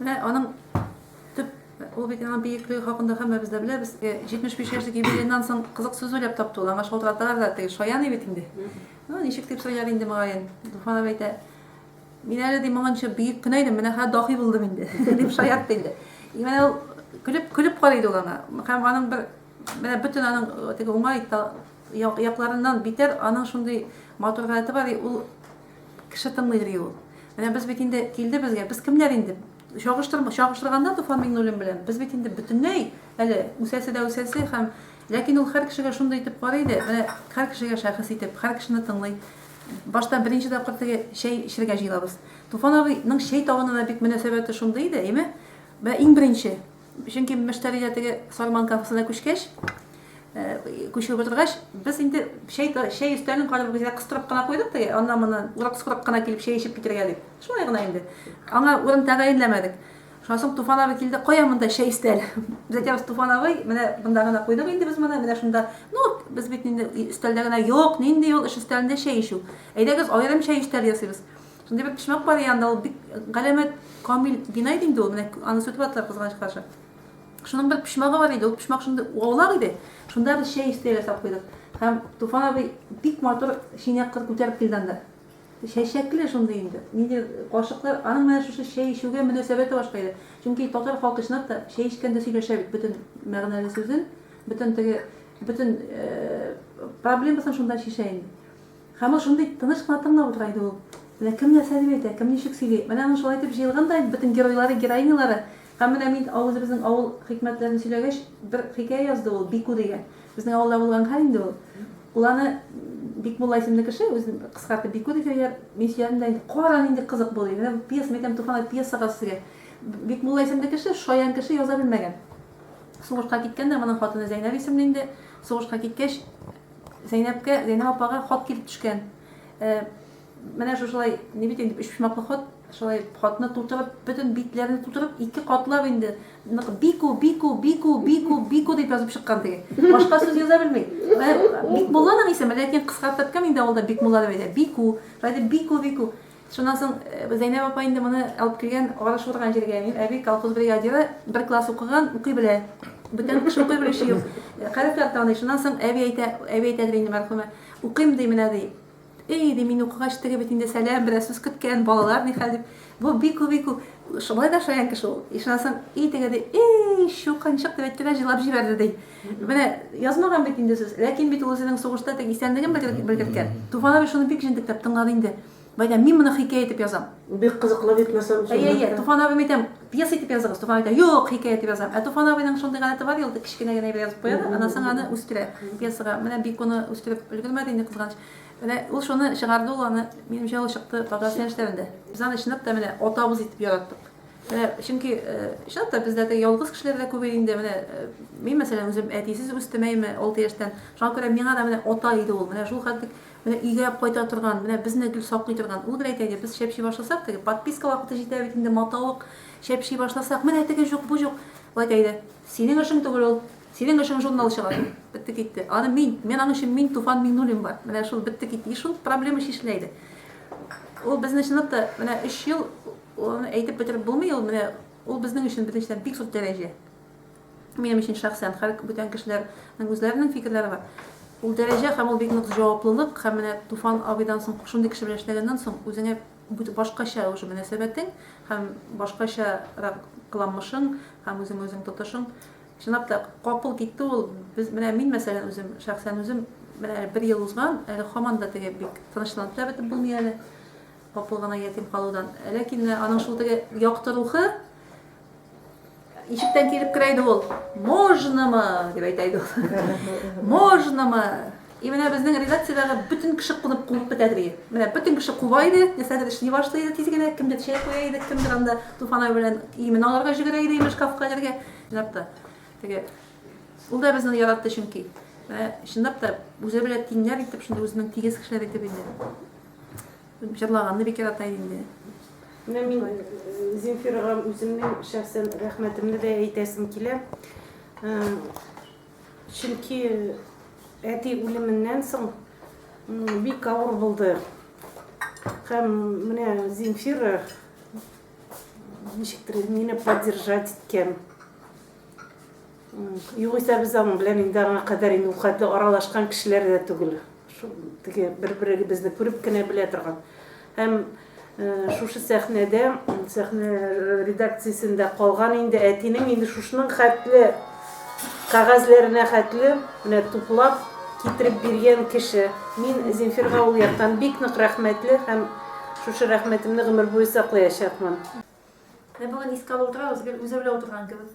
Менә аның төп ул бит аның биеклеге хакында һәммәбез дә беләбез. 75 э, яшьлек юбилейнан соң кызык сүз уйлап тапты ул. Аңа шалтыраталар да теге шаян бит инде. Ну, ничек дип сөйләр инде мөгаен. Дуфанов әйтә, мин әле ди моңынча бөек кенә идем, менә хәзер дахи булдым инде, дип шаярт инде. И менә ул көлеп көлеп карый иде ул аңа. Һәм аның бер менә бөтен аның э, теге уңай якларыннан битәр аның шундый матур гадәте бар, ул Кеше тыңлый ри ул. Менә без бит инде килде безгә, без кемнәр инде? Чагыштырма, чагыштырганда Туфан Миңнуллин белән, без бит инде бөтенләй әле үсәсе дә үсәсе һәм Ләкин ул һәр кешегә шундый итеп карый иде, менә һәр кешегә шәхес итеп, һәр кешене тыңлый. Башта беренче тапкыр теге чәй эчергә җыелабыз. Туфан абыйның чәй табына да бик мөнәсәбәте шундый иде, әйме? Менә иң беренче Чөнки мөштәриләр теге Сарман кафесына күчкәч, күчеп утыргач, без инде чәй чәй өстәлен карап гүзә кыстырып кына куйдык теге, аннан моннан урак-сурак кына килеп чәй эчеп китәргә дип. Шулай гына инде. Аңа урын тәгаенләмәдек. Шуннан соң Туфан абый килде, кая монда чәй өстәл? Без әйтәбез, Туфан абый, менә монда гына куйдык инде без моны, менә шунда. Ну, без бит инде өстәлдә генә, юк, нинди ул эш өстәлендә чәй эчү. Әйдәгез, аерым чәй өстәле ясыйбыз. Шундый бер почмак бар янында, ул бик галәмәт камил бина иде инде ул, менә аны сүтеп аттылар кызганыч каршы. Шуның бер почмагы бар иде, ул почмак шундый аулак иде. Шунда без чәй өстәле ясап куйдык. Һәм Туфан абый бик матур чәйнәк кыр күтәреп килде анда. Чәчәкле шундый инде. Нинди кашыклар, аның менә шушы чәй эчүгә мөнәсәбәте башка иде. Чөнки татар халкы чынлап та чәй эчкәндә сөйләшә бит бөтен мәгънәле сүзен, бөтен теге бөтен проблемасын шунда чишә инде. Һәм ул шундый тыныч кына тыңлап утыра иде ул. Менә кем нәрсә дип әйтә, кем ничек сөйли. Менә аның шулай итеп җыелган да инде бөтен геройлары, героинялары. Һәм менә мин үзебезнең авыл хикмәтләрен сөйләгәч, бер хикәя язды ул, Бику дигән. Безнең авылда булган хәл инде ул. Ул аны, Бикмулла исемле кеше, үзен кыскартып Бику дип йөр, мин сөйләдем дә инде, кара, нинди кызык бу, ди. Менә бу пьеса, мин әйтәм, Туфан ай, пьеса каз сезгә. Бикмулла исемле кеше, шаян кеше, яза белмәгән. Сугышка киткән дә, моның хатыны Зәйнәб исемле инде, сугышка киткәч, Зәйнәпкә, Зәйнәп апага хат килеп төшкән. Ә, менә шушылай, ни бит инде, өчпочмаклы хат. Шулай хатны тутырып, бөтен битләрне тутырып, ике катлап инде, нык бику, бику, бику, бику, бику дип язып чыккан теге. Башка сүз яза белми. Ә, Бикмулланың исеме, ләкин кыскартып кем инде авылда Бикмулла дип әйтә? Бику, шулай дип бику, бику. Шуннан соң Зәйнәб апа инде моны алып килгән арыш урган җиргә. Мин, әби, колхоз бригадиры, бер класс укыган, укый белә. Бүтән кеше укый белүче юк. Хәрефләр таный. Шуннан соң әби әйтә, әби әйтәдер инде, мәрхүмә, Укыйм, ди, менә, ди. Ий, ди, мин укыгач, теге бит инде сәлам бирә, сүз көткән, балалар ни хәл, дип. Бу бик ү, бик ү, шулай да шаян кеше ул. И шуннан соң, и теге, ди, Ий, чукынчык, дип әйтте дә җыйлап җибәрде, ди. Менә язмаган бит инде сүз. Ләкин бит ул үзенең сугышта тик исәнлеген белгер- белгерткән. Туфан абый шуны бик җентекләп тыңлады инде. Бәйдә, мин моны хикәя итеп язам. Бик кызыклы бит мәсәл Әйе, әйе, чынлап та. Туфан абыйм әйтәм, пьеса итеп языгыз. Туфан әйтә, юк, хикәя итеп язам. Ә Туфан абыйның шундый гадәте бар, ел кечкенә генә әйбер язып куя да, аннан соң аны үстерә пьесага. Менә бик уны үстереп өлгермәде инде, кызганыч. Менә ул шуны чыгарды, ул аны, минемчә, ул чыкты татар сәләшләрендә. Без аны чынлап та менә атабыз итеп яраттык. Менә чөнки чынлап та бездә теге ялгыз кешеләр дә күбәйде инде. Менә мин мәсәлән үзем әтисез үстем әйме, алты яшьтән. Шуңа күрә миңа да менә ата иде ул. Менә шул хәтлек менә өйгә кайта торган, менә безне гел саклый торган. Ул гел әйтә иде, без чәпчи башласак, теге подписка вакыты җитә бит инде, матавык чәпчи башласак, менә теге җук, бу җук. Ул әйтә иде, синең эшең түгел ул, синең эшең журнал чыгару. Бетте китте. Аны мин, мин аның өчен мин Туфан Миңнуллин бар. Менә шул бетте китте. И шул проблема чишелә иде. Ул безне чынлап та менә өч ел Ул аны әйтеп бетереп булмый, ул менә ул безнең өчен беренчедән бик зур дәрәҗә. Минем өчен шәхсән һәр бүтән кешеләрнең үзләренең фикерләре бар. Ул дәрәҗә һәм ул бик нык җаваплылык һәм менә Туфан абыйдан соң шундый кеше белән эшләгәннән соң үзеңә башкача уже мөнәсәбәтең һәм башкача кыланмышың һәм үзең үзең тотышың чынлап та капыл китте ул без менә мин мәсәлән үзем шәхсән үзем менә бер ел узган әле хаман да теге бик тынычланып та бетеп булмый әле Апыл гына ятим калудан. Ләкин аның шул теге якты рухы ишектән килеп керә иде ул. Можнамы? дип әйтә иде ул. Можнамы? И менә безнең редакциядәге бөтен кеше кунып куып бетә иде. Менә бөтен кеше куба иде, нәрсәдер эшли башлый иде тиз генә, кемдер чәй куя иде, кемдер анда Туфанай белән имен алырга җигерә иде, имеш кафка җиргә. Чынлап та. Теге ул да безне яратты чөнки. Менә чынлап та үзе белән тиңнәр итеп, шундый үзенең тигез кешеләр итеп инде. Җырлаганны бик ярата инде. Менә мин Земфирага үземнең шәхсән рәхмәтемне дә әйтәсем килә. Чөнки әти үлеменнән соң бик авыр булды. Һәм менә Земфира ничектер мине поддержать иткән. Югыйсә без аның белән инде аңа кадәр инде ул кадәр аралашкан кешеләр дә түгел. Шул теге бер-беребезне күреп кенә белә торган. Һәм э, шушы сәхнәдә, сәхнә редакциясендә калган инде әтинең инде шушының хәтле кәгазьләренә хәтле менә туплап китереп биргән кеше. Мин Земфирга ул яктан бик нык рәхмәтле һәм шушы рәхмәтемне гомер буе саклаячакмын. Менә бүген искә алып утырабыз, гел үзе белән утырган кебек.